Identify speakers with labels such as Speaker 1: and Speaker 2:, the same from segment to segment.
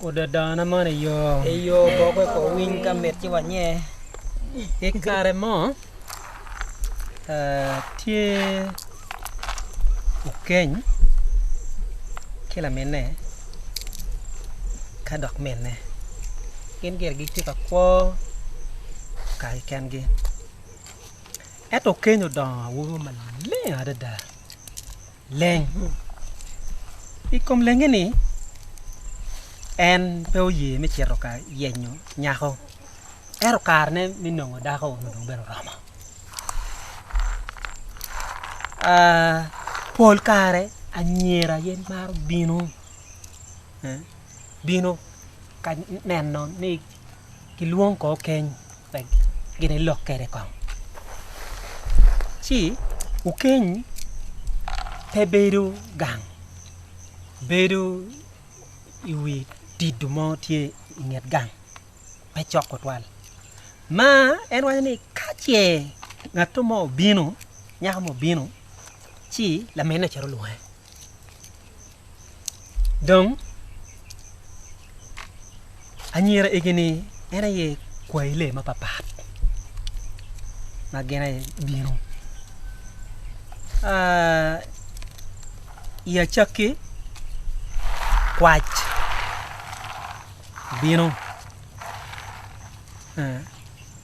Speaker 1: Odadana man i yo. I yo boke ko
Speaker 2: winy ka mit ci wanye. I
Speaker 1: kare mo eh, tye okeny ki laminne ka dok minne gin gire gitye ka kwo kare kengi. Ento keny odongo awobi maleng adada. Leng. I kom lenge-ni, en pe oye me cito ka yenyo nyako, ento karene me nongo dako onongo dong bene oromo. Pol kare anyira aye maro bino ka neno ni ki lwong kor keny ma gin ilok kwede kong ci okeny pe bedo gang bedo i wi dido mo tye i nget gang pe cok tutwal ma en waco ni ka ce ngato mo obino nyako mo obino ci laminne ocito olwonge. Dong anyira egi ni en aye kwayi lee mapapat ma gin aye bino i acakki kwac bino.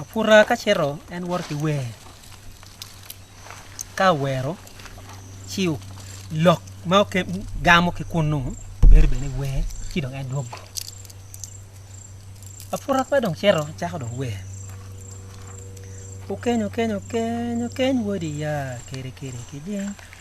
Speaker 1: Aputa ka cito en woto ki wer ka owero ci lok ma gamo ki kunnu bedo bene wer ci dong en dwogo aputa ka dong cito cako dong wer okeny okeny okeny okeny wadi ya keri keri kijing.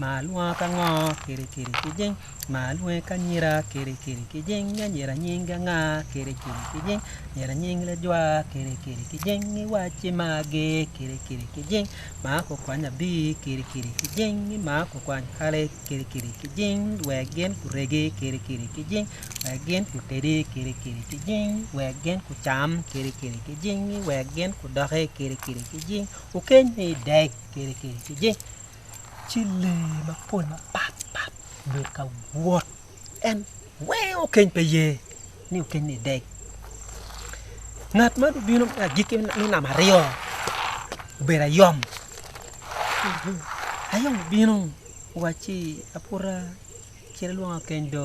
Speaker 1: ma alwonga ka ngo kiri kiri ki jing ma alwonga ki anyira kiri kiri ki jing anyira nyingi anga kiri kiri ki jing anyira nying lajwa kiri kiri ki jing iwacci ma agi kiri kiri ki jing ma kukwany abir kiri kiri ki jing ma kukwany kale kiri kiri ki jing wek gin guregi kiri kiri ki jing wek gin gutedi kiri kiri ki jing wek gin gucam kiri kiri ki jing wek gin gudoki kiri kiri ki jing okeny ni idek kiri kiri ki jing ci lee mapol mapat pat obedo ka wot en weng okeny pe ye ni okeny ni dek ngat ma dong obino me agikki me namba aryo obedo ayom, ayom obino owacci aputa cit ilwonga keny do.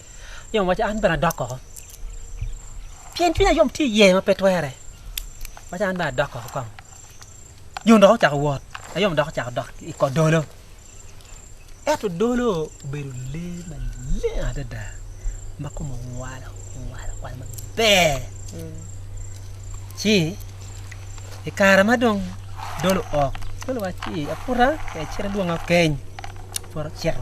Speaker 1: Yom waco, An bene adok oko, pien cwinya yom tye iye ma pe twere. Waco, An bene adok oko kong. Yom dok ocako wot, ayom dok ocako dok i kot dolo. Ento dolo obedo lee maleng adada ma kome owalo owalo owalo maber. Ci i kare ma dong dolo ok, dolo waco ni aputa tek cit adwong akeny. Aputa ocito.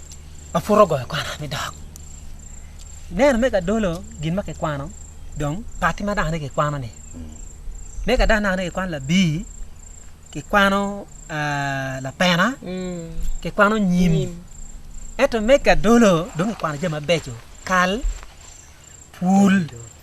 Speaker 1: ma pud ogoyo kwana me dok. Ineno me gadolo gin ma kikwano dong pati ma dano kikwano-ni. Me ka dano dano kikwano labir, kikwano ah, lapena, kikwano nyim. Ento me gadolo dong kikwano jami mabeco, kal, pul,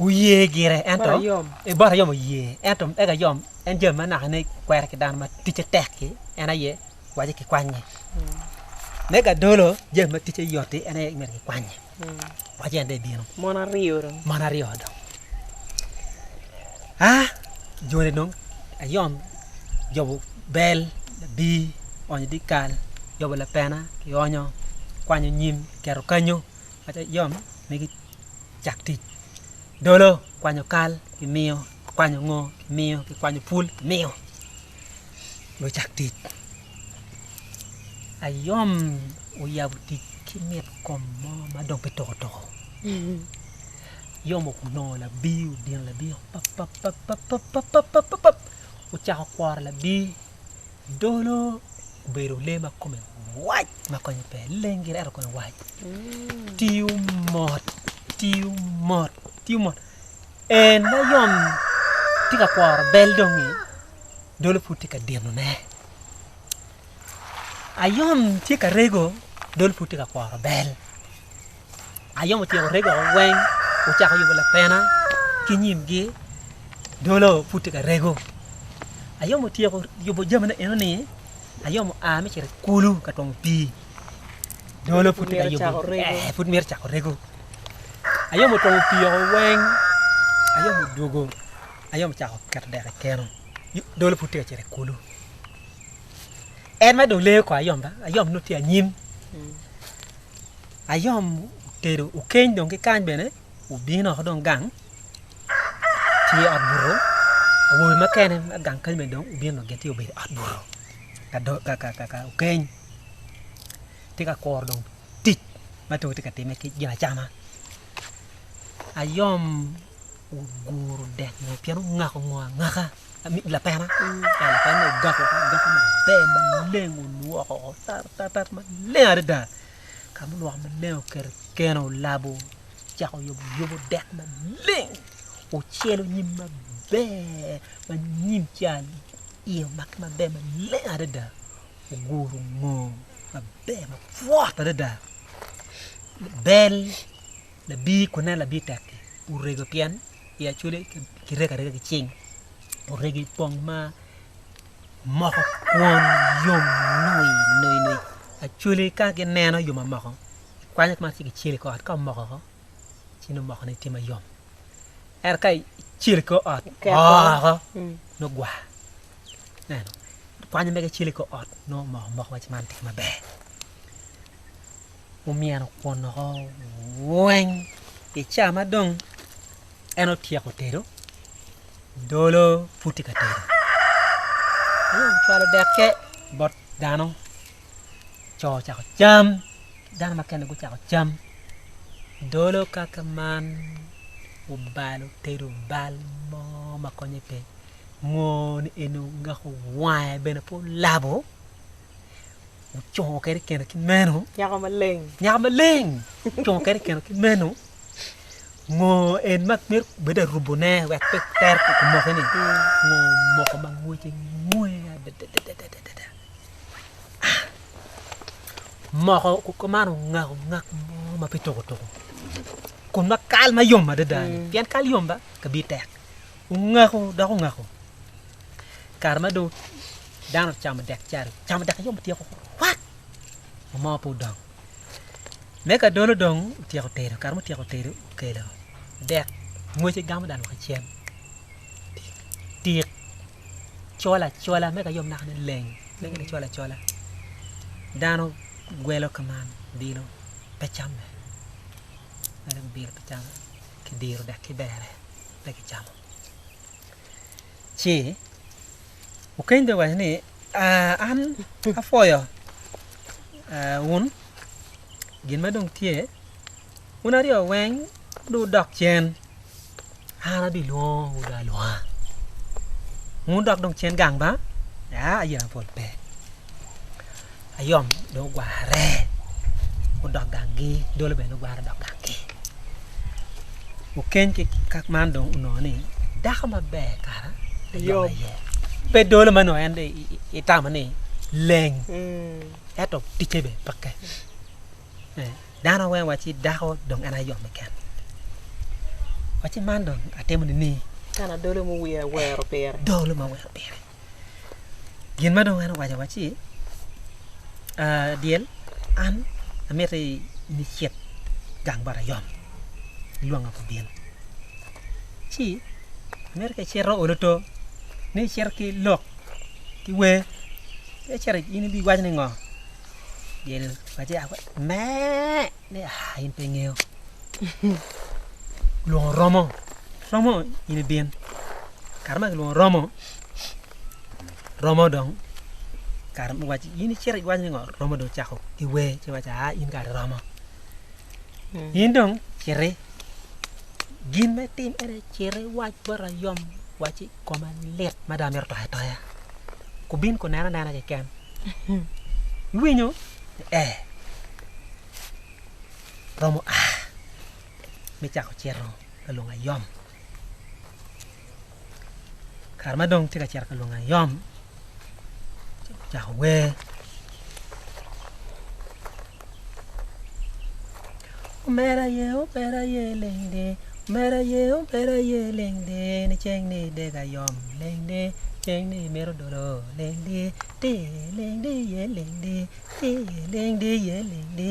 Speaker 1: Wuye gire ento bot ayom oye ento eka ayom en jami ma nakane kwere ki dano ma ticce tek-ki en aye waci kikwanye me gadolo jami ma ticce yot-ti en aye myero kikwanye waci en dong ebino mon aryo dong
Speaker 3: mon aryo dong
Speaker 1: a joni dong ayom jobo bel labir oonyo dyekal jobo lapena kionyo kwanyo nyim kiketo kanyo ayom migi cak tic. Dolo kwanyo kal kimiyo, kikwanyo ngo kimiyo, kikwanyo pul kimiyo lucak tic. Ayom oyabo tic ki mit kom mo ma dong pe toko toko. Ayom onongo labir, odino labir papapapapapapap ocako kworo labir. Dolo obedo lee ma kome wac ma konye pe leng gire ento kome wac tiyo mot tiyo mot tiyo mot en ma yom tye ka kworo bel dong-ngi dolo pud tye ka dinone ayom tye ka rego dolo pud tye ka kworo bel. Ayom otyeko rego woko weng, ocako yubo lapena ki nyimgi dolo pud tye ka rego. Ayom otyeko yubo jamine enoni, Ayom oa me cito i kulu ka twongo pii. Dolo pud tye ka yubo, ee pud mito cako rego. Ayom otwongo pii woko weng, Ayom odwogo, Ayom ocako keto dek i keno. Dolo pud tye ka cito i kulu. En ma dong leyo kong Ayom ba, Ayom nongo tye anyim. ayom otedo okeny dong kikany bene obino woko dong gang tye i ot buto awobe mukene ma gang kany bene dong gubino dong gitye obedo i ot buto ka okeny tye ka kuro dong tic ma dong tye ka timme ki gin acama ayom oguro dek mo pien ongako mo angaka mit lapena lapena ogako ogako maber maleng olwoko woko tatat maleng adada. Ka ma lwak maleng oketo keno olabo ocako yuboyubo dek maleng ocelo nyim maber ma nyim ca iye omake maber maleng adada oguru ngom maber mapwot adada bel labir kun ineno labir tek-ki orego pien i acholi kirego arega ki cing orego i pong ma moko kwon yom nongo nono nono actually ka gineno yom omoko kikwanyo kema ci kicel i kor ot ka omoko oko ci nongo mokone tye mayom ento ka icel i kor ot oo nongo gwa ineno kwanyo mege cel i kor ot nongo omoko moko waci man tye maber omyeno kwon woko weng i ca ma dong en otyeko tedo. Dolo pud tye ka tedo. Dong ocwalo dekke bot dano. Co ocako cam, ki dano mukene gucako cam. Dolo kaka man obalo otedo bal mo ma konye pe. Ngo ni eni ongeko wange bene pe olabo. ocungo kede keno ki meno nyako maleng
Speaker 2: nyako maleng ocungo kede keno
Speaker 1: ki meno ngo en ma myero bedo arubone wek pe ter pe kumoke ni ngo moko ma ngwece ngwe adadadadadada moko ko man ongako ngak mo ma pe tuko tuko kun ma kal ma yom adada pien kal yom ba kabi tek ongako dok ongako Kare ma dong dano ocamo dek cari, ocamo dek ayom otyeko wat, mo mo pe odong. Me ka dolo dong otyeko tedo, kare ma otyeko tedo okelo dek mwece gamo dano woko icel. Tik col acola me ka yom naka ni leng, leng ni col acola. Dano gwelo ka man bilo pe camme. Dano bilo pe camme, kidiro dek ki bere pe kicamo. ci okeny dong owaco ni, Aa, an apwoyo wun gin ma dong tye, wun aryo weng dong wudok cen, an abilwongowu dong alwonga. Wun wudok dong cen gang ba? Aa, aye pol pe. ayom dong ogwarre odok gangi dolo bene dong ogwarre odok gangi okeny ki kak man dong onongo ni dako maber kara ayom aye pe dolo ma nongo en itamo ni leng ento ticce bene peke dano weng waci dako dong en ayom keken waci man dong atimo nining? Kana dolo ma
Speaker 2: owiro awero pire. Dolo ma awero pire.
Speaker 1: Gin ma dong en owaco wa ci dyel an amiti in icit gang bot ayom ilwonga ku bin ci amito ka icito olo to ni icito ki lok ki wer ka icito in ibiwaco ni ngo dyel owaci mee ni aa in pe ingeyo olwongo romo romo in ibin kare ma kilwongo romo Romo dong kare me waci in icito iwaco ni ngo romo dong cako ki wer ci waco aa in kare romo in dong citi gin me tim ene citi iwac bot ayom waci koma lit mada amito toyo atoya kubin kunena nena keken iwinyo ni ee romo aa me cako cito lalongo ayom Kare ma dong tye ka cito ka lwongo ayom, ocako wer. Omera aye, omera aye leng de, omera aye, omera aye leng de, ni ceng ni dega yom leng de, ceng ni mito dolo leng de, ti leng de iye leng de, ti leng de iye leng de.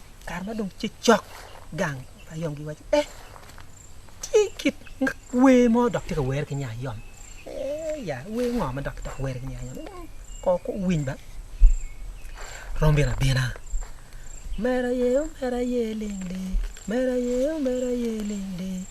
Speaker 1: kare ma dong tye cok gang ayom giwaco ni eh tye kit wer mo dok tye ka were ki nya ayom eh ya wer ngo ma dok kidok were ki nya ayom kor ko winy ba rom bino abina mera ye mera ye ling ling mera ye mera ye ling ling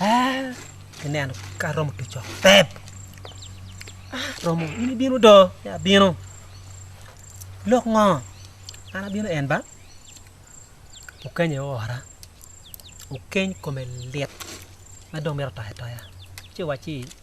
Speaker 1: Ee, kineno ka aromo tuco tep. Ah, romo, in ibino do? Ya abino. Lok ngo? An abino en ba? Okenye ora. Okeny kome lit ma dong mito toyo atoya. Ci wacci.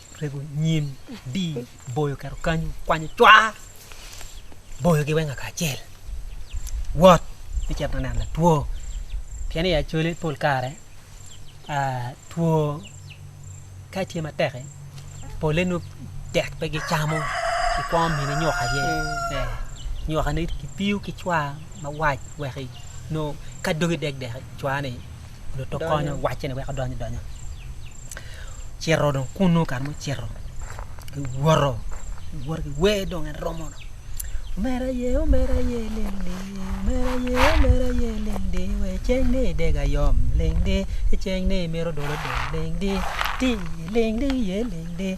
Speaker 1: rego nyim di boyo keto kany kwanyo cwa boyo gi weng akacel wot me cito neno latwo pien i acwale pol kare two ka tye matek pole nongo tek pe gicamo i kwo mine nyok aye nyoka ne ki piyo ki cwa mawac wek i nongo ka dogi dek dek cwa ni Luto konyo wacce ni wek odony idonya. Cito dong kunu kare mo cito. Giwoto. Giwoto ki wer dong en romo. Omera ye, omera ye, ling di. Omera ye, omera ye, ling di. We ceng ni dega yom, ling di. Ceng ni miro dolo dong, ling di. Ti, ling di, ye, ling di.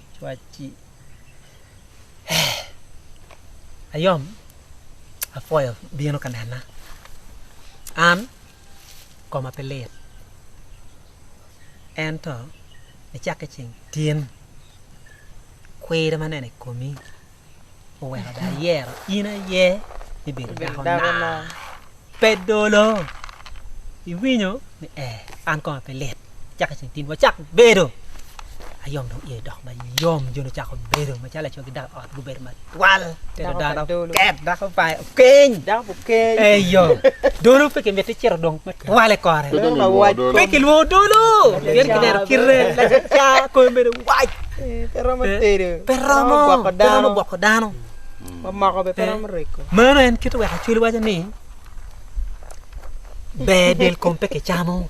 Speaker 1: cwacci ayom apwoyo bino ka nena an koma pe lit ento icakki ceng tin kwir ma aneno i komi oweko dong ayero in aye ni bedo dako naa pe dolo iwinyo ni ee an koma pe lit caka ceng tin wacak bedo ayom dong iye dok mayom joni ocako bedo macalo laco ki dako i ot gubedo matwal tedo dano ket dako pa keny dako bu keny eyo dolo pe ki miti ciro dong me twale kore pe ki lwongo dolo pien ki neno kite lacaca kome bedo wac pe romo tedo pe romo gwoko dano mamoko be
Speaker 2: pe romo reko mano en kite wek
Speaker 1: acwali waco ni ber del kom pe ki camo